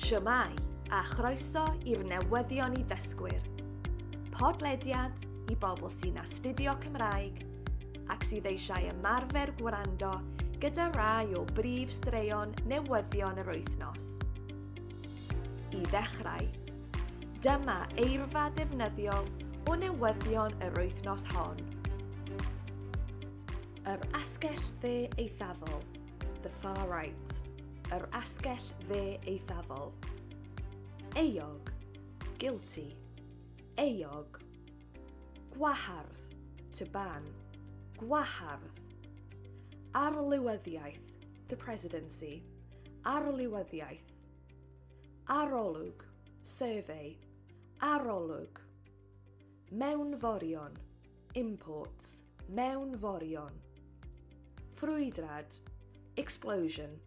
Shwmae, a chroeso i'r newyddion i ddysgwyr. Podlediad i bobl sy'n astudio Cymraeg ac sydd eisiau ymarfer gwrando gyda rai o brif straeon newyddion yr wythnos. I ddechrau, dyma eirfa ddefnyddiol o newyddion yr wythnos hon. Yr asgell dde eithafol. the far right, yr asgell dde eithafol. Eog, guilty, eog. Gwahardd, to ban, gwahardd. Arlywyddiaeth, the presidency, arlywyddiaeth. Arolwg, survey, arolwg. Mewnforion, Imports, mewnforion. Ffrwydrad, explosion,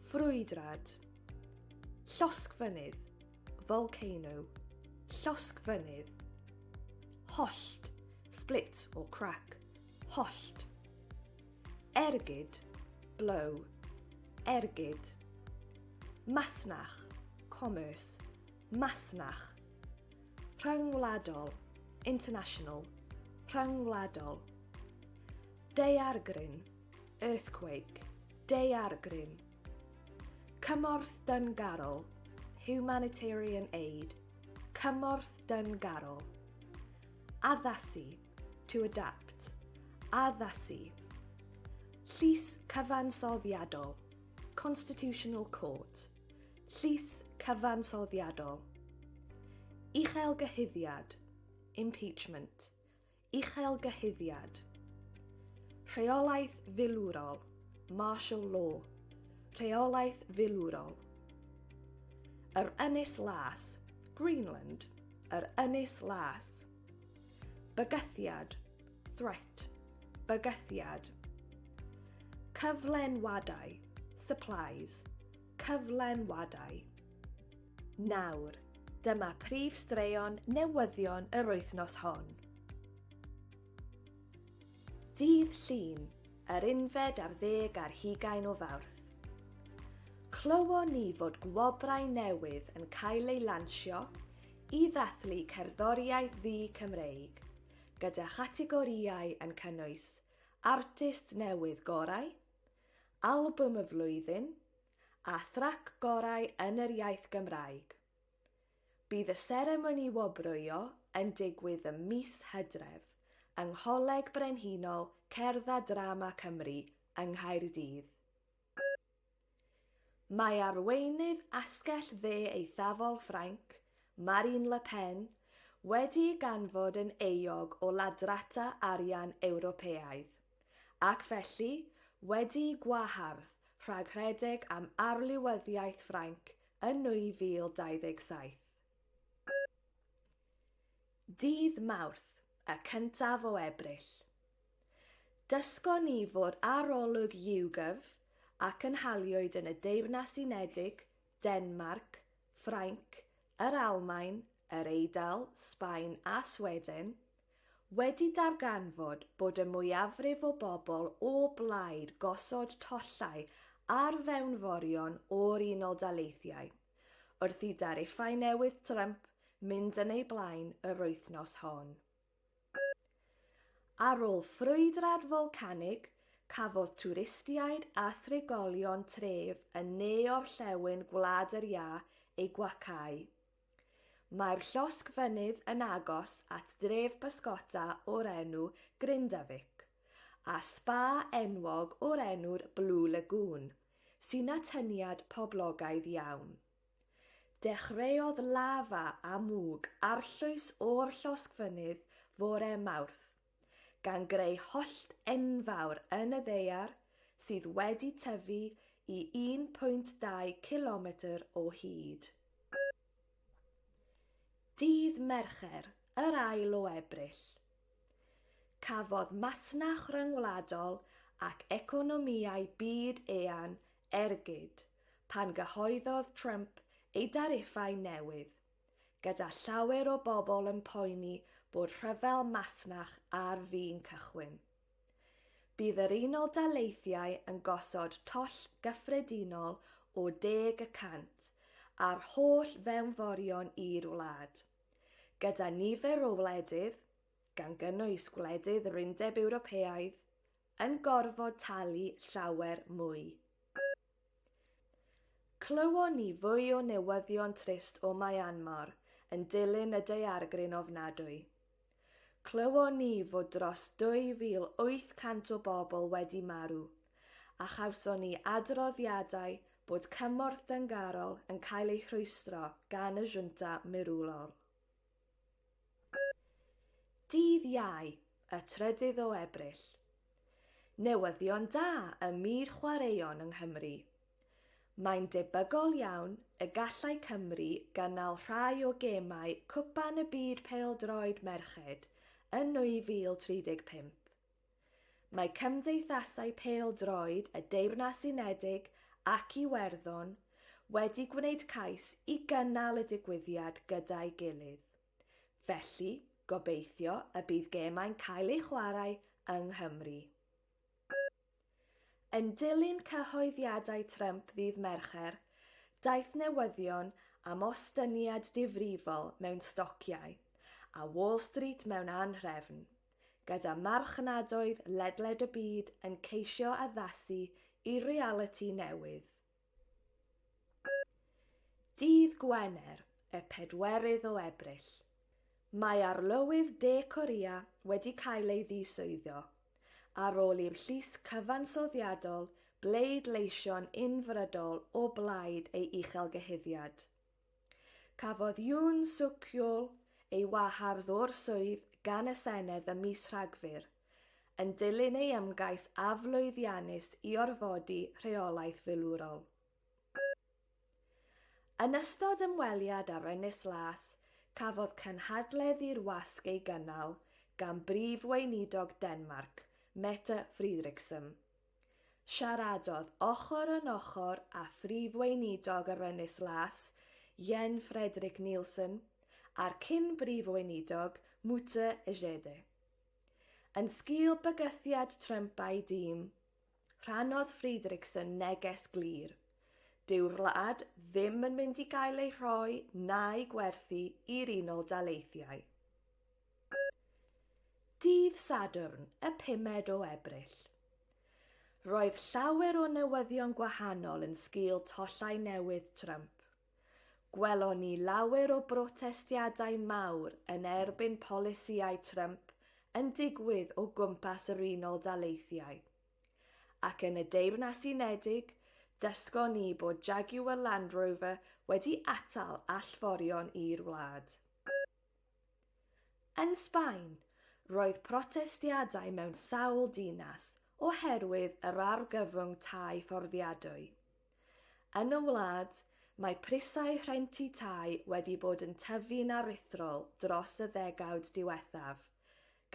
ffrwydrad. Llosgfynydd, volcano, llosgfynydd. Hollt, split or crack, hollt. Ergyd, blow, ergyd. Masnach, commerce, masnach. Rhyngwladol, international, rhyngwladol. Daeargryn, earthquake, daeargryn. Cymorth dyngarol, humanitarian aid, cymorth dyngarol. Addasu, to adapt, addasu. Llys cyfansoddiadol, constitutional court. Llys cyfansoddiadol. Uchelgyhuddiad. Impeachment. Uchelgyhuddiad. Rheolaeth filwrol. Martial law. Rheolaeth filwrol. Yr Ynys Las. Greenland. Yr Ynys Las. Bygythiad, threat, bygythiad. Cyflenwadau, supplies, cyflenwadau. Nawr, dyma prif straeon newyddion yr wythnos hon. Dydd Llun, yr unfed ar ddeg ar hugain o Fawrth. Clywon ni fod gwobrau newydd yn cael eu lansio I ddathlu cerddoriaeth ddu-Cymreig, gyda chategorïau yn cynnwys Artist Newydd Gorau, Albwm y Flwyddyn a Thrac Gorau yn yr Iaith Gymraeg. Bydd y seremoni wobrwyo yn digwydd ym mis Hydref yng Ngholeg Brenhinol Cerdd a Drama Cymru yng Nghaerdydd. Mae arweinydd Asgell Dde Eithafol Ffrainc, Marine Le Pen, wedi'i ganfod yn euog o ladrata arian Ewropeaidd, ac felly wedi'i gwahardd rhag rhedeg am arlywyddiaeth Ffrainc yn 2027. Dydd Mawrth, y cyntaf o Ebrill. Dysgon ni fod arolwg YouGov a cynhaliwyd yn y Deyrnas Unedig, Denmarc, Ffrainc, yr Almaen, yr Eidal, Sbaen a Sweden, wedi darganfod bod y mwyafrif o bobl o blaid gosod tollau ar fewnforion o'r Unol Daleithiau. wrth i dariffau newydd Trump mynd yn eu blaen yr wythnos hon. Ar ôl ffrwydrad folcanig, cafodd twristiaid a thrigolion tref yn ne-orllewin Gwlad yr Iâ eu gwacáu. Mae'r llosg fynydd yn agos at dref bysgota o'r enw Grindavik, a sba enwog o'r enw'r Blue Lagoon, sy'n atyniad poblogaidd iawn. Dechreuodd lafa a mwg arllwys o'r llosgfynydd fore Mawrth, gan greu hollt enfawr yn y ddaear sydd wedi tyfu i 1.2 cilometr o hyd. Dydd Mercher, yr ail o Ebrill, Cafodd masnach ryngwladol ac economïau byd eang ergyd pan gyhoeddodd Trump ei dariffau newydd, gyda llawer o bobl yn poeni bod rhyfel masnach ar fin cychwyn. Bydd yr Unol Daleithiau yn gosod toll gyffredinol o deg y cant ar holl fewnforion i'r wlad. gyda nifer o wledydd, gan gynnwys gwledydd yr Undeb Ewropeaidd, yn gorfod talu llawer mwy. Clywon ni fwy o newyddion trist o Myanmar yn dilyn y daeargryn ofnadwy. Clywon ni fod dros 2,800 o bobl wedi marw, a chawson ni adroddiadau bod cymorth dyngarol yn cael ei rhwystro gan y Junta mirwlol. Dydd Iau, y trydydd o Ebrill. Newyddion da ym myd chwaraeon yng Nghymru. Mae'n debygol iawn y gallai Cymru gynnal rhai o gemau Cwpan y Byd Pêl-droed Merched yn 2035. Mae cymdeithasau pêl-droed y Deyrnas Unedig ac Iwerddon wedi gwneud cais i gynnal y digwyddiad gyda'i gilydd, felly gobeithio y bydd gemau'n cael eu chwarae yng Nghymru. Yn dilyn cyhoeddiadau Trump ddydd Mercher, daeth newyddion am ostyngiad difrifol mewn stociau, a Wall Street mewn anhrefn, gyda marchnadoedd ledled y byd yn ceisio addasu i realiti newydd. Dydd Gwener, y pedwerydd o Ebrill, mae Arlywydd De Corea wedi cael ei ddiswyddo ar ôl i'r Llys Cyfansoddiadol bleidleisio'n unfrydol o blaid ei uchelgyhuddiad. Cafodd Yoon Suk Yeol ei wahardd o'r swydd gan y Senedd ym mis Rhagfyr, yn dilyn ei ymgais aflwyddiannus i orfodi rheolaeth filwrol. Yn ystod ymweliad â'r Ynys Las, cafodd cynhadledd i'r wasg ei gynnal gan Brif Weinidog Denmarc, Mette Frederiksen. Siaradodd ochr yn ochr â Phrif Weinidog yr Ynys Las, Jen Frederik Nielsen, a'r cyn-Brif Weinidog, Mute Ejede. Yn sgil bygythiad Trump a'i dîm, rhannodd Frederiksen neges glir, Dyw'r wlad ddim yn mynd i gael ei rhoi na'i gwerthu i'r Unol Daleithiau. Dydd Sadwrn, y pumed o Ebrill. Roedd llawer o newyddion gwahanol yn sgil tollau newydd Trump. Gwelon ni lawer o brotestiadau mawr yn erbyn polisïau Trump yn digwydd o gwmpas yr Unol Daleithiau. Ac yn y Deyrnas Unedig, dysgon ni bod Jaguar Land Rover wedi atal allforion i'r wlad. Yn Sbaen, roedd protestiadau mewn sawl dinas oherwydd yr argyfwng tai fforddiadwy. Yn y wlad, mae prisau rhentu tai wedi bod yn tyfu'n aruthrol dros y ddegawd diwethaf,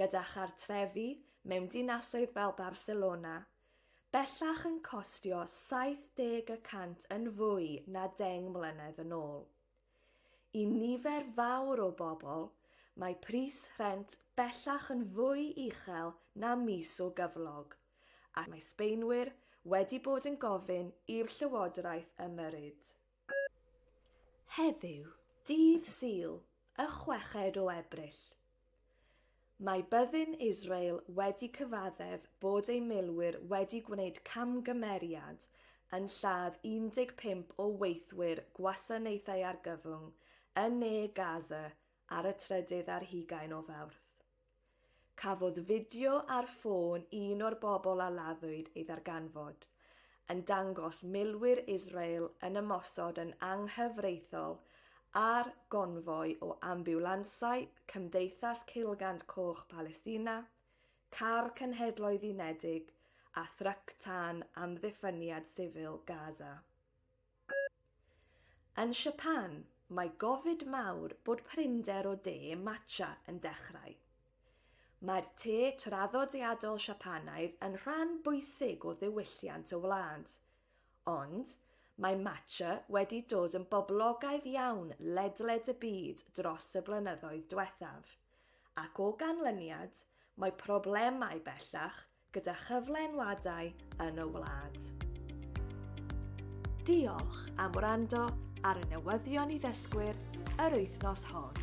gyda chartrefi mewn dinasoedd fel Barcelona bellach yn costio 70 y cant yn fwy na deng mlynedd yn ôl. I nifer fawr o bobl, mae pris rhent bellach yn fwy uchel na mis o gyflog, ac mae Sbaenwyr wedi bod yn gofyn i'r llywodraeth ymyrryd. Heddiw, dydd Sul, y chweched o Ebrill, Mae byddin Israel wedi cyfaddef bod ei milwyr wedi gwneud camgymeriad yn lladd 15 o weithwyr gwasanaethau argyfwng yn ne Gaza ar y trydydd ar hugain o Fawrth. Cafodd fideo ar ffôn un o'r bobl a laddwyd ei ddarganfod, yn dangos milwyr Israel yn ymosod yn anghyfreithiol ar gonfoi o ambiwlansau Cymdeithas Ceulgand Coch Palestina, Car Cenhedloedd Unedig a thryc tân amddiffyniad sifil Gaza. Yn Siapan, mae gofid mawr bod prinder o de matcha yn dechrau. Mae'r te traddodiadol Siapaneaidd yn rhan bwysig o ddiwylliant y wlad. Ond, mae matcha wedi dod yn boblogaidd iawn ledled y byd dros y blynyddoedd diwethaf, ac o ganlyniad, mae problemau bellach gyda chyflenwadau yn y wlad. Diolch am wrando ar y newyddion i ddysgwyr yr wythnos hon.